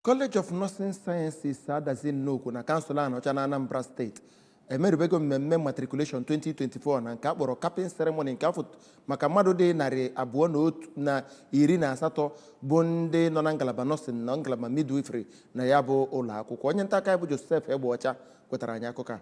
College of Nursing Sciences Adazi Nnukwu na kansụl Anaọcha na Anambra steeti emerubego mmemme matriculation 2024 na nke a kpọrọ capping ceremony nke afọ maka mmadụ dị narị abụọ na otu na iri na asatọ bụ ndị nọ na ngalaba nọọsịn na ngalaba midwifery na ya bụ ụlọ akwụkwọ onye nta akụkọ anyị bụ Joseph Egbeọcha wetara anyị akụkọ a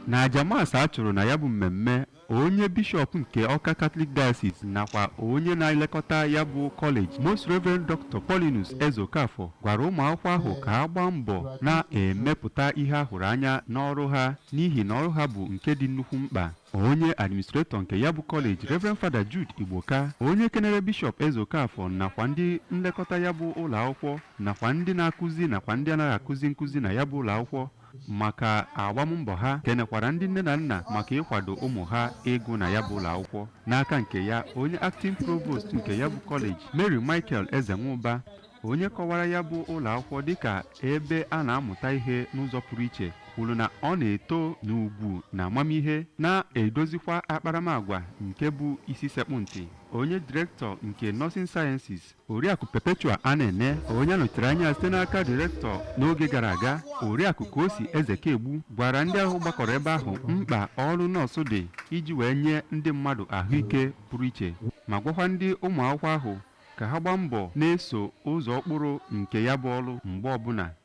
na aja mas a chụrụ na ya bụ mmemme onye bishọp nke ọka katọlik diocese nakwa onye na-elekọta ya bụ kọleji most reverend dr paulinus ezeokafọ gwara ụmụ akwụkwọ ahụ ka ha gbaa mbọ na-emepụta ihe a hụrụ anya n'ọrụ ha n'ihi na ọrụ ha bụ nke dị nnukwu mkpa onye administretọ nke ya bụ kọleji Reverend Fada Jude Igboka onye kenere bishọp Ezeokafọ nakwa ndị nlekọta ya bụ ụlọ akwụkwọ nakwa ndị na-akụzi nakwa ndị anaghị akụzi nkụzi na ya bụ ụlọ akwụkwọ maka agbammbọ ha kenekwara ndị nne na nna maka ịkwado ụmụ ha ịgụ na ya bụ ụlọ akwụkwọ n'aka nke ya onye acting provost nke ya bụ kọleji Mary Michael Ezenwụba onye kọwara ya bụ ụlọ akwụkwọ dịka ebe a na-amụta ihe n'ụzọ pụrụ iche kwuru na ọ na-eto n'ugwu na amamihe na-edozikwa akparamagwa nke bụ isi sekpụ ntị onye direktọ nke Nursing Sciences oriakụ Perpetua Anene onye a nọchitere anya ya site n'aka direktọ n'oge gara aga oriakụ Kosi Ezekegbu gwara ndị ahụ gbakọrọ ebe ahụ mkpa ọrụ nọọsụ dị iji wee nye ndị mmadụ ahụike pụrụ iche ma gwakwa ndị ụmụ akwụkwọ ahụ ka ha gbaa mbọ na-eso ụzọ ụkpụrụ nke ya bụ ọrụ mgbe ọbụla